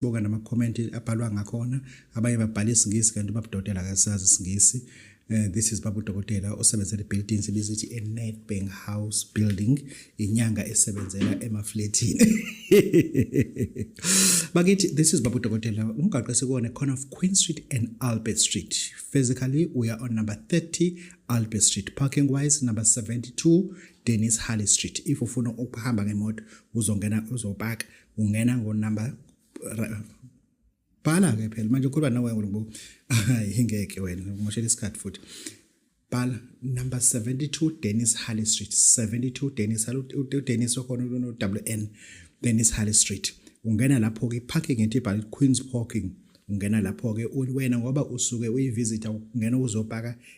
buka nama-comment abhalwa ngakhona abanye babhala isingisi kanti babudokotela akasazi isingisi Uh, this is babu dokotela osebenzela i-building sibiza ithi i-netbank house building inyanga esebenzela emafletini bakithi this is babu dokotela umgaqo esikuwona corner of queen street and albert street physically we are on number 30 albert street parking wise number 72 Dennis Harley Street if ufuna ukuhamba ngemoto uzongena uzopaka ungena ngo number bhala ke phela manje ukhuluma nawe ngoba hayi ngeke wena umoshela isikhathi futhi bhala number 72 Dennis Halley Street 72 Dennis Halley Dennis okhona uno WN Dennis Halley Street ungena lapho ke parking ethi bhala Queens parking ungena lapho ke wena ngoba usuke uyivisita ungena uzopaka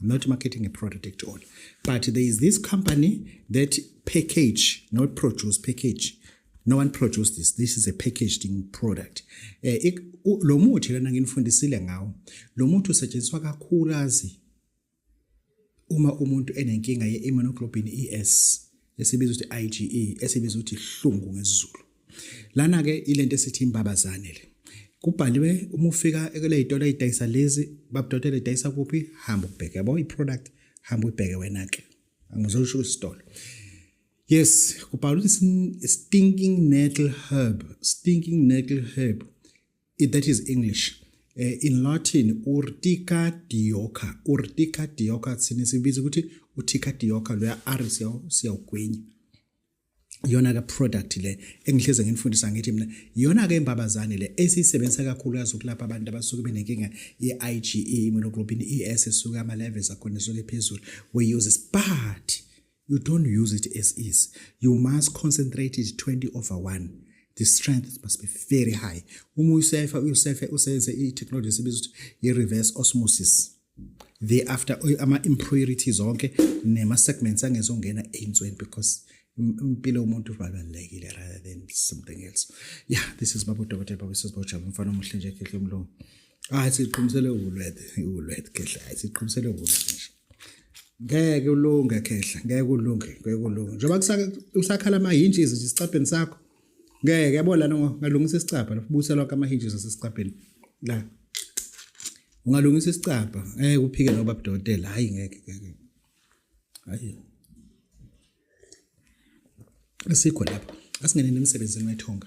I'm not marketing a product at all. But there is this company that package, not produce, package. No one produced this. This is a packaged product. Eh, lo muthi lana nginifundisile ngawo. Lo muthi usetshenziswa kakhulukazi uma umuntu enenkinga ye-immunoglobulin ES. esibizwa ukuthi IGE esibizwa ukuthi hlungu ngesizulu lana ke ilento esithi imbabazane le kubhaliwe uma ufika ekule itolo idayisa lezi babudotela idayisa kuphi hamba ubheke yabo iproduct hamba ubheke wena ke angizosho isitolo yes kubhalwe stinking nettle herb stinking nettle herb If that is English. Eh, in Latin, urtica dioca. Urtica dioca, sinisibiza ukuthi uthika dioca, loya R siyawugwinya. Yona ke product le engihleze nginifundisa ngithi mina yona ke imbabazane le esiyisebenzisa kakhulu yazi ukulapha abantu abasuke benenkinga ye-IgE immunoglobulin ES esuka ama levels akhona esuke phezulu we use but You don't use it as is. You must concentrate it 20 over 1. The strength must be very high. Uma uyisefa uyisefe usenze i-technology esibiza ukuthi i-reverse osmosis. Thereafter ama-impurities zonke nema-segments angezongena ey'nsweni because impilo yomuntu ibalulekile rather than something else. Yeah, this is Babu Dokotela Babu Sisibawu Jabu mfana omuhle nje Khehle Mlungu. Ah, siqhumisele ukulwethe, ukulwethe Khehle. Siqhumisele ukulwethe nje. ngeke ulunge khehla ngeke ulunge ngeke ulunge njengoba kusakhala ama-hinges nje esicabheni sakho ngeke yabo lana ungalungisa isicabha lapho busa lonke ama-hinges asesicabheni la ungalungisa isicabha ngeke uphike noba budokotela hhayi ngeke ngeke hhayi asikho lapho asingeneni emsebenzini wethonga